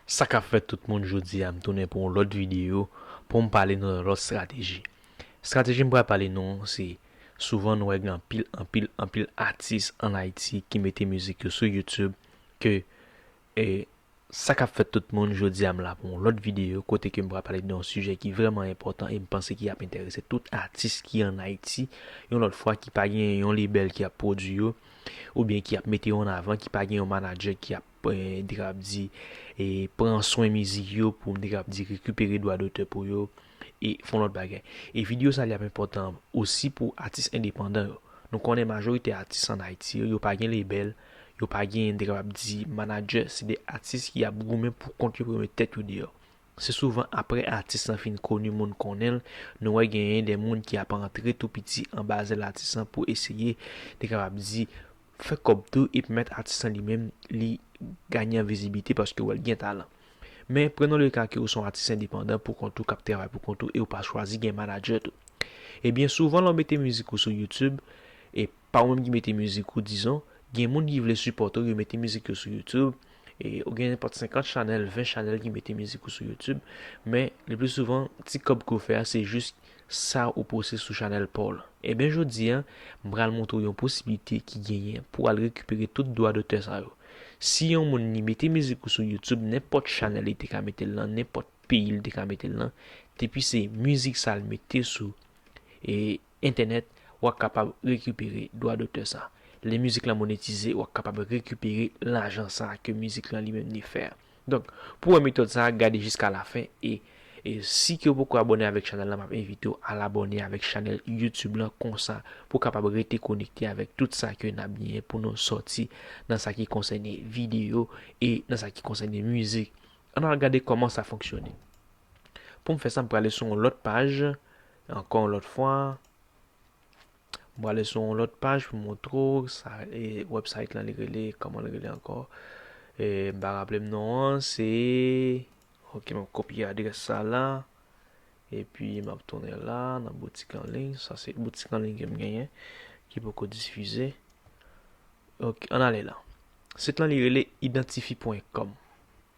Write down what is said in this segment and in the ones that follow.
Sa kap fèt tout moun jodi a m tounen pou yon lòt videyo pou m pale nou yon lòt strateji strateji m pral pale nou se souvan nou wè gen anpil anpil anpil atis an ayiti ki mete mizik yo sou youtube ke E sa kap fèt tout moun, jodi a m la pou yon lòt videyo kote ke m pral pale de yon sijè ki vrèman enpòtan e m panse ki ap enterese tout atis ki an Ayiti yon lòt fwa ki pa gen yon lebèl ki ap pwodui yo oubyen ki ap mete yo an avan ki pa gen yon manadjè ki ap m te kab di pran swen mizik yo pou m te kab di rekipere dwa dotè pou yo. e fon lòt bagay. E video sa li ap enpòtan osi pou atis endepandan yo. Nou konnen majorite atis an Ayiti yo, yo pa gen lebèl, yo pa gen, m te kapab di, manadjè, se de atis ki ap goumen pou kont yo pou yo met tèt yo deyò. Se souvan aprè atis lan fin koni moun konnen l, nou wè genyen de moun ki ap antre tou piti anba zèl atis lan pou eseye, m te kapab di, fè kòb tou e pèmèt atis lan li menm li gaye an vizibilite paske wè l gen talan. Men, prenons le cas ke ou se yon atis endepandan pou kont ou k ap travay pou kont ou e ou pa chwazi gen manadjè tou. Ebyen, souvan lè w mete mizik ou sou YouTube, e pa ou menm ki mete mizik ou dizon, gen moun ki vle sipòte w, yo mete mizik yo sou YouTube, e ou gen nenpòt 50 chanèl, 20 chanèl ki mete mizik ou sou YouTube, men, le pli souvan, ti kòb ke w fè a se jis, Sa ou poste sou chanèl paw lan. Ebyen jodi a, m pral montre w yon posiblite ki genyen pou w al rekipere tout dwa dotè sa yo. Si yon moun li mete mizik ou sou YouTube, nenpòt chanèl li te ka mete l lan, nenpòt peyi li te ka mete l lan, depi se mizik sa l mete sou entènèt, w ap kapab rekipere dwa dotè sa. Lè mizik lan monetize, w ap kapab rekipere lajan sa ke mizik lan li menm li fè a. Donk pou wè metòd sa gade jiska lafen e e si ke ou poko abòne avèk chanèl lan map envitew al abòne avèk chanèl YouTube lan konsa pou kapab rete konekte avèk tout sa ke nap genyen pou nou sòti nan sa ki konsène videyo e nan sa ki konsène mizik ann al gade kòman sa fonksyone poum fè sa m prale sou yon lòt paj ankò yon lòt fwa. M prale sou yon lòt paj pou m montre w sa e website lan li rele kòman li rele ankò e m pa raple m non an se ok map kopye adrès sa la epi map tounen la nan boutik an liy sa se boutik an liy ke m genyen ki poko difize ok an ale la sit lan li rele identifi pwen kòm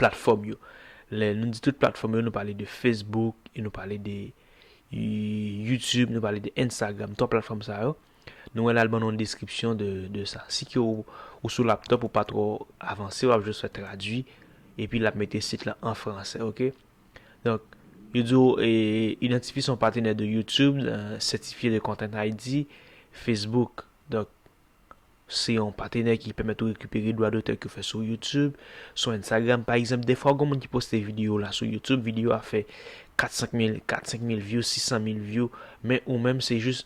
platfòm yo. Lè nou di tout platfòm yo, nou pale de Facebook, nou pale de YouTube, nou pale de Instagram, 3 platfòm sa yo. Nou wè la l ban nou yon deskripsyon de sa. Si ke ou sou laptop ou pa twò avanse, w ap jis fè tradui, epi l ap mete sit la an franse, ok. Donk, yo di ou idantifye son patenè de YouTube, sètifye de Content ID, Facebook. Donk, Se yon patenè ki pèmèt ou rekipere dwa dotè ke w fè sou YouTube, sou Instagram pa egzanp. Dèfwa gon moun ki poste videyo w la sou YouTube, videyo a fè 4 5 mil, 4 5 mil vyou, 600 mil vyou, men ou menm se jis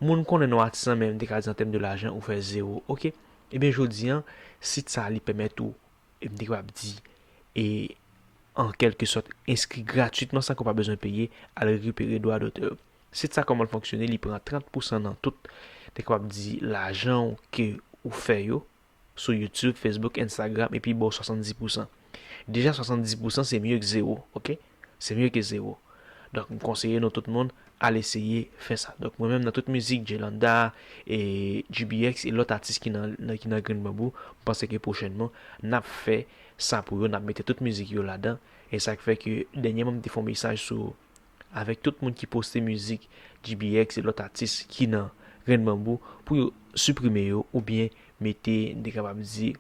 moun konnen non atis lan men m te ka di an tèm de lajan ou fè zewo ok. Ebyen jodi an sit sa li pèmèt ou e m te kapab di e an kèlke sòt enskri gratwitman san ke w pa bezwen peye al rekipere dwa dotè yo. Sit sa kòman l fonksyone li pran 30 pousan nan tout te kapab di lajan w ke ou fè yo sou youtube, facebook, instagram epi ba w 70 pousan. Deja 70 pousan se mye k zewo ok se mye ke zewo donk m konseye nou tout moun al eseye fè sa donk mwen menm nan tout mizik Djlanda e GBX e lòt atis ki nan ki nan grenn banbou m panse ke pwochènman n ap fè sa pou yo n ap mete tout mizik yo ladan e sa k fè ke dènyèman m te fè yon mesaj sou avèk tout moun ki poste mizik GBX e lòt atis ki nan Grenn Banbou pou yo siprime yo oubyen mete m te kapab di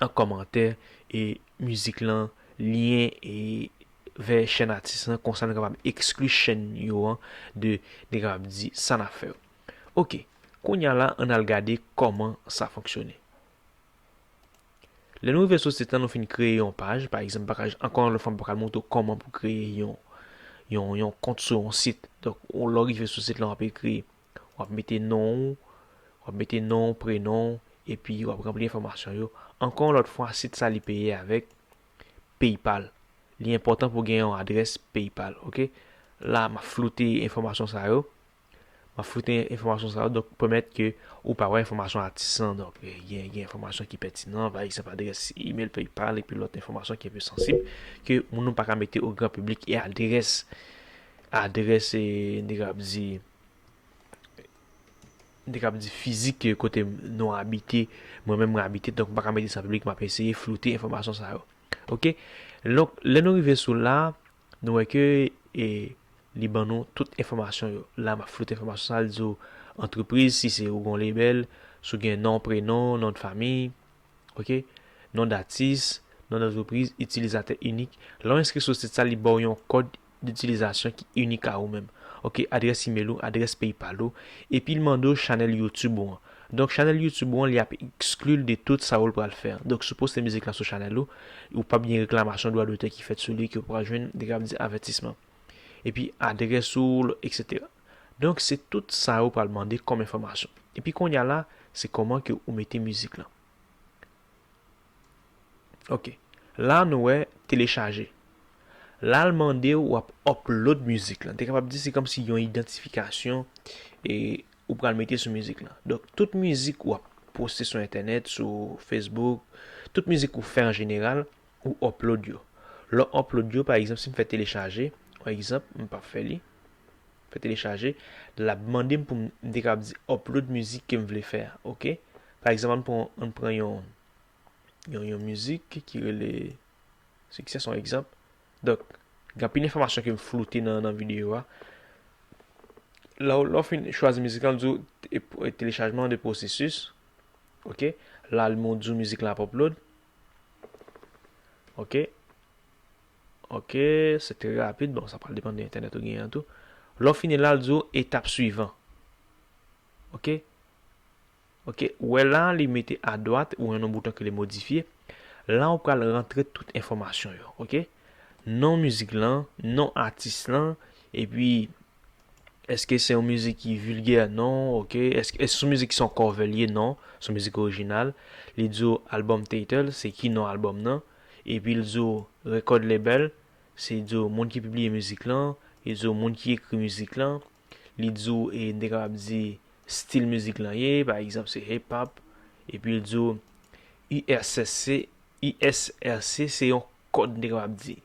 an kòmantè e mizik lan lyen e vè chèn atis lan konsa nou kapab ekskli chèn yo an de m te kapab di sa n ap fè yo. Ok, kounya la an n al gade kòman sa fonksyone. Lè nou rive sou sit lan nou fin kreye yon paj, pa egzanp pakaj ankò yon lòt fwa m pral montre w kòman pou kreye yon yon yon kont sou yon sit. Donk ou lè w rive sou sit lan w ap ekri, w ap mete non ou, w ap mete non w, prenon w, epi w ap ranpli enfòmasyon yo. Ankò yon lòt fwa sit sa li peye avèk PayPal. Li enpòtan pou w gen yon adrès PayPal, ok. La m ap floute enfòmasyon sa yo. Map foute enfòmasyon sa yo donk pwomèt ke ou pa wè enfòmasyon atis lan donk gen gen enfòmasyon ki pètinan pa egzanp adrès email paypal epi lòt enfòmasyon ki anpe sansib ke moun nou paka mete o gran piblik e adrès adrès e nèg yo ap di nèg yo ap di fizik kote nou abite mwen menm mwen abite donk mpaka mete sa piblik map eseye floute enfòmasyon sa yo ok donk lè nou rive sou la Nou wè ke e li ban nou tout enfòmasyon yo. La map floute enfòmasyon sa li di w antrepriz si se ou gon label, si w gen non, prenon, non de famiy, ok, non datis, non dantrepriz, itilizatè inik. Lè w enskri sou sit sa li ba w yon kòd ditilizasyon ki inik a ou menm. Ok, adrès imel ou, adrès paypal ou, epi li mande w chanèl youtube ou an. Donk chanèl youtube ou an li ap ekskli l de tout sa ou l pral fè an. Donk si w poste mizik lan sou chanèl ou, ou pap gen reklamasyon dwa dotè ki fèt sou li ke ou pral jwenn li kab di avètisman. Epi adrès ou l etc. Donk se tout sa yo pral mande kòm enfòmasyon. Epi kounye a la se kòman ke ou mete mizik lan. Ok la nou wè telechaje la l mandew wap upload mizik lan te kapab di se kòmsi yon idantifikasyon e ou pral mete sou mizik lan donk tout mizik wap poste sou entènèt sou Facebook tout mizik ou fè an jeneral ou upload yo lè w upload yo pa egzanp si m fè telechaje pa egzanp m pap fè li. Fè telechaje, lap mandem pou m te kapab di upload mizik ke m vle fè a ok. Pa egzanp ann pran ann pran yon yon mizik ki rele Succès son egzanp. Donk gen anpil enfòmasyon ke m floute nan nan videyo a. Lè w lè w fin chwazi mizik lan l di w telechajman an de pwosesis ok. La l di w mizik lan ap upload ok. Ok se trè rapid bon sa pral depann de entènèt ou genyen an tou lè w fini la l di w etap swivan ok ok ou wè la li mete adwat ou wè yon bouton ki rele modifye la ou pral rantre tout enfòmasyon yo ok non mizik lan non atis lan epi èske se yon mizik ki vilgè non ok èske se yon mizik ki se yon kòve l ye non se yon mizik orijinal li di w album title se ki non album nan. Epi l di w record label, se di w moun ki pibliye mizik lan, li di w moun ki ekri mizik lan, li di w e n te kapab di stil mizik lan ye, pa egzanp se hip hop, epi l di w ISRC, ISRC se yon kòd n te kapab di,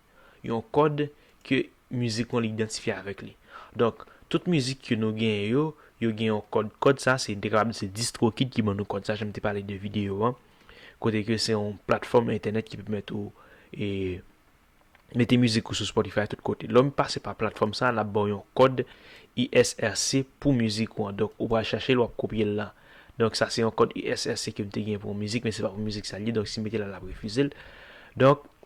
yon kòd ke mizik mwen li idantifye avèk li. Donk tout mizik ke nou genyen yo, yo gen yon kòd, kòd sa se n te kapab di se Distrokid ki ban nou kòd sa jan m te pale de videyo an. kote ke se yon platfòm entènèt ki pèmèt ou e mete mizik ou sou Spotify tout kote. Lè w pase pa platfòm sa, l ap ba w yon kòd ISRC pou mizik ou an. Donk, ou pral chache l, w ap kopye l la. Donk, sa se yon kòd ISRC ke m te gen pou yon mizik, men se pa pou mizik sa l ye. Donk, si m mete l la, l ap refize l. Donk,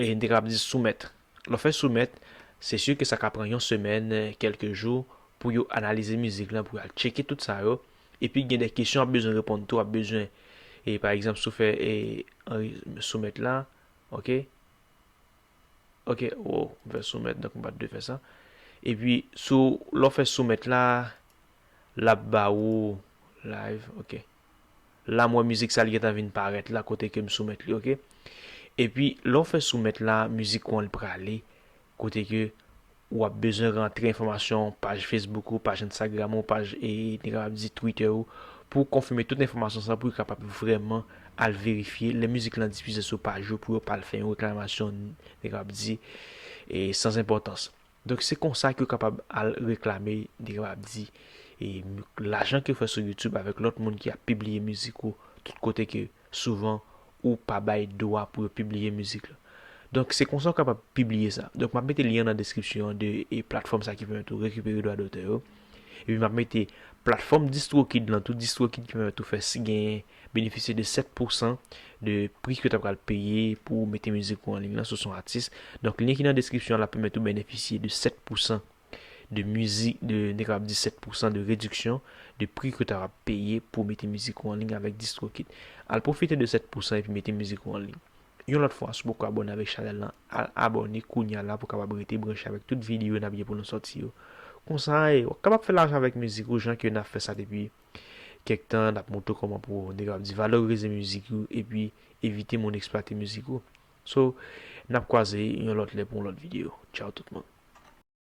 E n te kapab di soumèt. Lè w fè soumèt, se si ke sa ka pran yon semèn, kèlke jou pou yo analize mizik lan, pou yo al tcheke tout sa yo. Epi gen de kesyon w ap bezwen reponn tou, w ap bezwen e pa egzanp si w fè e soumèt la, ok, ok, woww m fè soumèt donk m pa t dwe fè sa. Epi sou lè w fè soumèt la, l ap ba ou live, ok. la m wè mizik sa li gentan vin parèt la kote ke m soumèt li ok epi lè w fè soumèt la mizik ou an li prale kote ke ou ap bezwen rantre enfòmasyon paj Facebook ou paj Instagram ou paj e n kapab di Twitter ou pou w konfime tout enfòmasyon sa pou yo kapab vrèman al verifye lè mizik lan difize sou paj ou pou yo pa al fè yon reklamasyon n kapab di e san enpòtans. Donk se konsa ke yo kapab al reklame, yo kapab di e lajan ke w fè sou youtube avèk lòt moun ki ap pibliye mizik ou tout kote ke souvan ou pa bay dwa pou yo pibliye mizik la. Donk se konsa ou kapab pibliye sa. Donk m ap mete lyen nan deskripsyon an de e platfòm sa ki pèmèt ou rekipere dwa dotè yo. Epi m ap mete platfòm distrokid lan tou, distrokid ki pèmèt ou fè si genyen benefisye de 7 pou san de pri ke w ta pral peye pou w mete mizik ou anliy lan si w se yon atis. Donk lyen ki nan deskripsyon an la pèmèt ou benefisye de 7 pou san de mizi, de n te kapab di 7 pou san de rediksyon de pri ke w ta va peye pou w mete mizik ou anliy avèk Distrokid. Al pwofite de 7 pou san epi mete mizik ou anliy. Yon lòt fwa, si w poko abòne avèk chanèl lan, al abòne kounya la pou w kapab rete branche avèk tout videyo n ap gen pou nou sòti yo. Konsa e, w kapab fè lajan avèk mizik ou jan ke n ap fè sa depi Kèk tan nap moutre kòman pou nèg yo ap di valorize mizik yo epi evite moun eksplwate mizik ou. So nap kwaze yon lòt lè pou yon lòt video. Tchao tout moun.